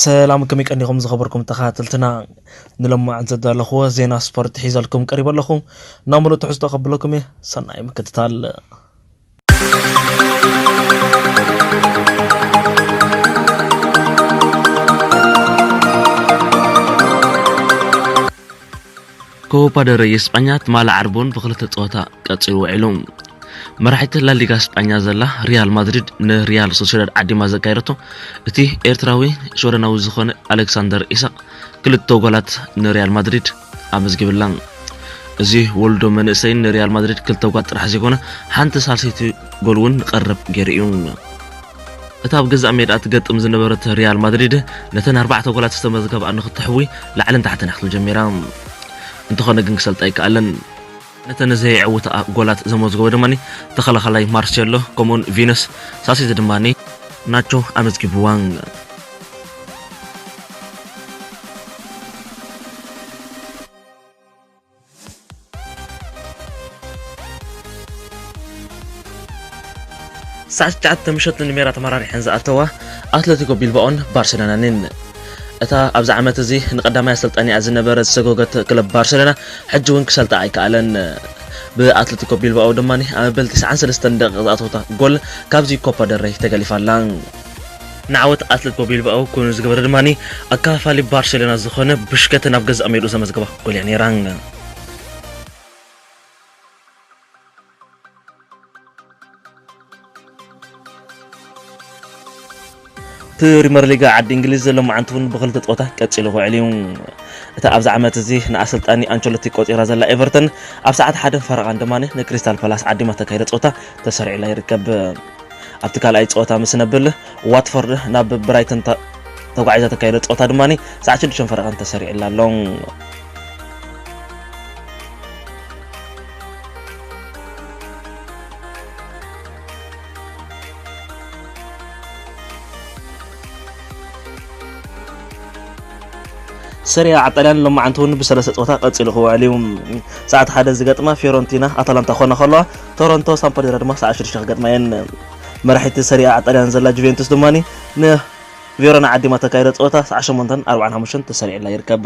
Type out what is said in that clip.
ሰላም ከመይ ቀኒኹም ዝኸበርኩም ተኸታተልትና ንሎማዕን ዘዳለኹዎ ዜና ስፖርት ሒዘልኩም ቀሪበ ኣለኹ ናብ ምሉእ ትሕዝቶ ከብለኩም እየ ሰናይ ምክትታል ኮፓ ደረይ ስጳኛ ትማሊ ዓርቡን ብክልተ ጸወታ ቀጺሉ ውዒሉ መራሒት ላሊጋ ስጳኛ ዘላ ሪያል ማድሪድ ንሪያል ሶሴዳድ ዓዲማ ዘካየደቶ እቲ ኤርትራዊ ሽወደናዊ ዝኾነ ኣሌክሳንደር ኢሳቅ ክልተ ጎላት ንሪያል ማድሪድ ኣመዝጊብላ። እዚ ወልዶ መንእሰይ ንሪያል ማድሪድ ክልተ ጓል ጥራሕ ዘይኮነ ሓንቲ ሳልሰይቲ ጎል እውን ንቐረብ ገይሩ እዩ። እታ ኣብ ገዛእ ሜድኣ ትገጥም ዝነበረት ሪያል ማድሪድ ነተን ኣርባዕተ ጎላት ዝተመዝገብኣ ንክተሕዊ ላዕልን ታሕትን እያ ክትብል ጀሚራ። እንተኾነ ግን ክሰልጣ ኣይከኣለን። ነተን ዘየዕውታኣ ጎላት ዘመዝገቦ ድማ ተኸላኻላይ ማርሴሎ ከምኡ'ውን ቪነስ፣ ሳሲቲ ድማ ናቾ ኣመዝጊቡዋ። ሳዕ ትሽዓተ ምሸት ንሜዳ ተመራሪሐን ዝኣተዋ ኣትለቲኮ ቢልባኦን ባርሴሎናን እየን። እታ ኣብዚ ዓመት እዚ ንቀዳማይ ኣሰልጣኒኣ ዝነበረ ዝሰጎገት ክለብ ባርሴሎና ሕጂ እውን ክሰልጣ ኣይከኣለን። ብኣትለቲኮ ቢልባኦ ድማ ኣብ መበል ትስዓን ሰለስተን ደቂቕ ዝኣተወታ ጎል ካብዚ ኮፓ ደል ረይ ተገሊፋ ኣላ። ንዓወት ኣትለቲኮ ቢልባኦ ኮይኑ ዝገበረ ድማ ኣከፋፋሊ ባርሴሎና ዝኾነ ቡሽከተ ናብ ገዛእ ሜድኡ ዘመዝገባ ጎል እያ ነይራ። ፕሪመር ሊግ ዓዲ እንግሊዝ ሎማዓንቲ እውን ብክልተ ፀወታ ቀፂሉ ክውዕል እዩ እታ ኣብዚ ዓመት እዚ ንኣሰልጣኒ ኣንቸሎቲ ቆፂራ ዘላ ኤቨርተን ኣብ ሰዓት ሓደ ፈረቓን ድማ ንክሪስታል ፓላስ ዓዲማ ተካይደ ፀወታ ተሰሪዑላ ይርከብ ኣብቲ ካልኣይ ፀወታ ምስ ነብል ዋትፎርድ ናብ ብራይተን ተጓዒዛ ተካይደ ፀወታ ድማ ሰዓት ሽዱሽተ ፈረቓን ተሰሪዑላ ኣሎ ሰሪኣ ዓጣልያን ሎማዓንቲ እውን ብሰለስተ ፀወታ ቀፂሉ ክውዕል እዩ ሰዓት ሓደ ዝገጥማ ፊዮረንቲና ኣታላንታ ክኾና ከለዋ ቶሮንቶ ሳምፓዶሪያ ድማ ሰዓት ሽዱሽተ ክገጥማ እየን መራሒቲ ሰሪኣ ዓጣልያን ዘላ ጁቬንቱስ ድማ ንቬሮና ዓዲማ ተካይዶ ፀወታ ሰዓት ሸሞንተን ኣርባዓን ሓሙሽተን ተሰሪዕላ ይርከብ